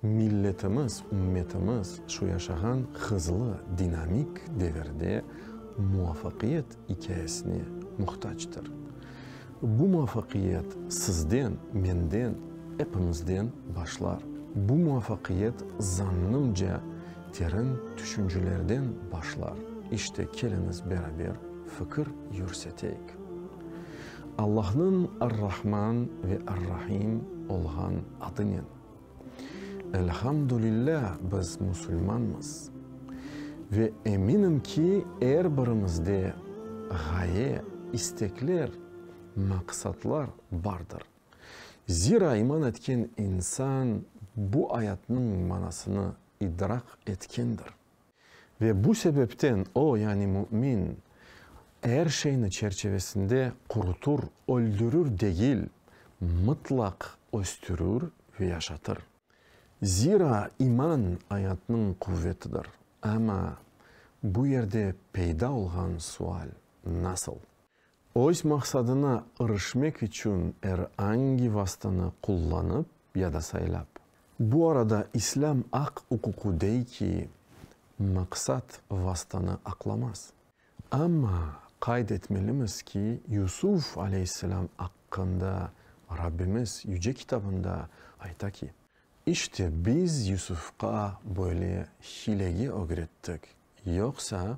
Milletimiz, ümmetimiz şu yaşağan hızlı, dinamik devirde muvafaqiyet ikâyesine muhtacdır. Bu muvafaqiyet sizden, menden, epimizden başlar. Bu muvafaqiyet zannımca terin tüşüncelerden başlar. İşte keliñiz beraber fikir yürseteyik. Allahnıñ Ar-Rahman ve Ar-Rahim olğan adınen. Elhamdülillâ, biz musulmanmız. Ve eminim ki, er birimizde ğaye, istekler, maqsatlar bardır. Zira iman etken insan bu ayatnıñ manasını idrak etkendir. Ve bu sebepten o, yani mümin, er şeyni çerçevesinde qurutur, öldürür degil, mıtlaq östürür ve yaşatır. Zira iman ayatnıñ quvvetidir. Amma bu yerde peyda olğan sual, nasıl? Öz maqsadına irişmek içün er angi vastanı qullanıp ya da saylap. Bu arada islâm aq-uququ dey ki, maqsat vastanı aqlamaz. Amma qayd etmelimiz ki, Yusuf aleyhisselâm aqqında Rabbimiz Yüce Kitabında ayta ki. İşte biz Yusufqa böyle hilege ögrettik, yoqsa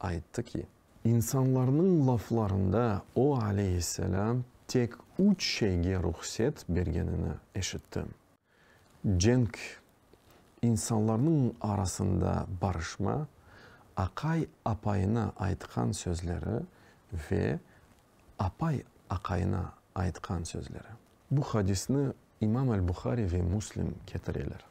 ayttı ki. İnsanlarnıñ laflarında o, aleyhisselâm, tek üç şeyge ruhset bergenini eşittim, cenk, insanlarnıñ arasında barışma, aqay apayına aytqan sözleri ve apay aqayına aytqan sözleri. Bu hadisni İmam al-Buhari ve Muslim ketireler.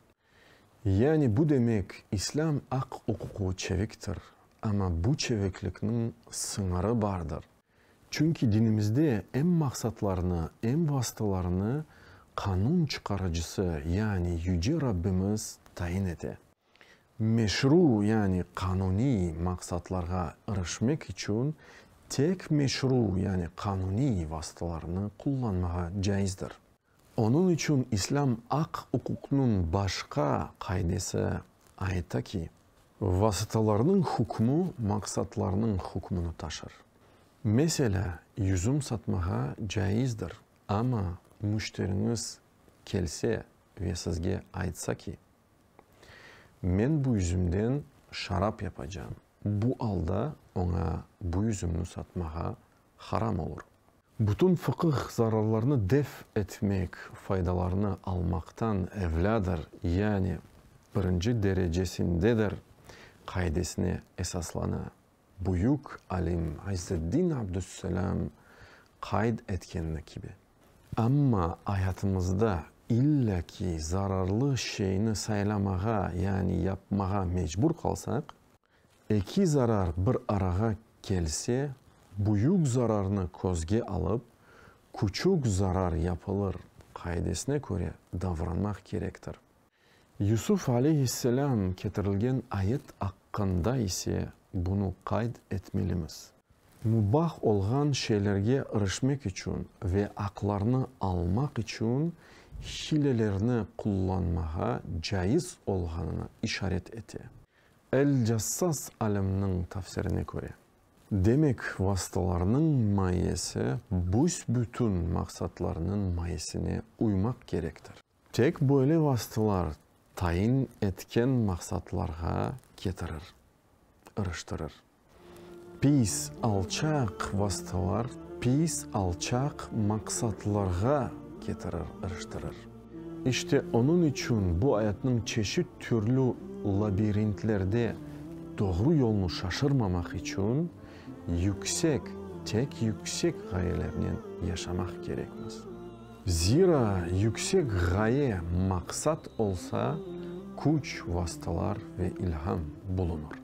Yani bu demek, İslâm aq-uquqlı çeviktir, amma bu çeviklikniñ sıñırı bardır. Çünki dinimizde em maqsatlarnı, em vasıtalarnı qanun çıqarıcısı, yani Yüce Rabbimiz tayin ete. Meşru, yani qanuniy, maqsatlarğa irişmek içün tek meşru, yani qanuniy, vasıtalarnı qullanmağa caizdir. Onıñ içün İslâm aq-uquqnıñ başqa qaidesi ayta ki. Vasıtalarnıñ hükmü maqsatlarnıñ hükmüni taşır. Meselâ, yüzüm satmağa caizdir, amma müşteriñiz kelse ve sizge aytsa ki, Men bu yüzümden şarap yapacağım, bu alda oña bu yüzümni satmağa haram olur. Bütün fıqıh zararlarnı def etmek, faydalarnı almaqtan evlâdır, yani birinci derecesindedir qaidesine esaslana. Büyük alim İzzeddin Abdüsselâm qayd etkenini kibi. Amma ayatımızda illa ki zararlı şeyni saylamağa, yani yapmağa mecbur qalsaq, Eki zarar bir arağa kelse, büyük zararnı közge alıp, küçük zarar yapılır qaidesine köre davranmaq kerektir. Yusuf aleyhisselâm ketirilgen ayet aqqında ise bunı qayd etmelimiz. Mubah olğan şeylerge irişmek içün ve aqlarnı almaq içün hilelerni qullanmağa caiz olğanını işaret ete. El-Cassas alimniñ tafsirine köre. Demek, vasıtalarnıñ mayesi büs-bütün maqsatlarnıñ mayesine uymaq kerektir. Tek böyle vasıtalar tayin etken maqsatlarğa ketirir, ırıştırır. Pis, alçaq vasıtalar pis, alçaq maqsatlarğa ketirir, iriştirir. İşte, onıñ içün bu ayatnıñ çeşit türlü labirintlerde doğru yolnı şaşırmamaq içün yüksek, tek yüksek ğayelernen yaşamaq kerekmiz. Zira yüksek ğaye, maqsat olsa, küç, vasıtalar ve ilham bulunır.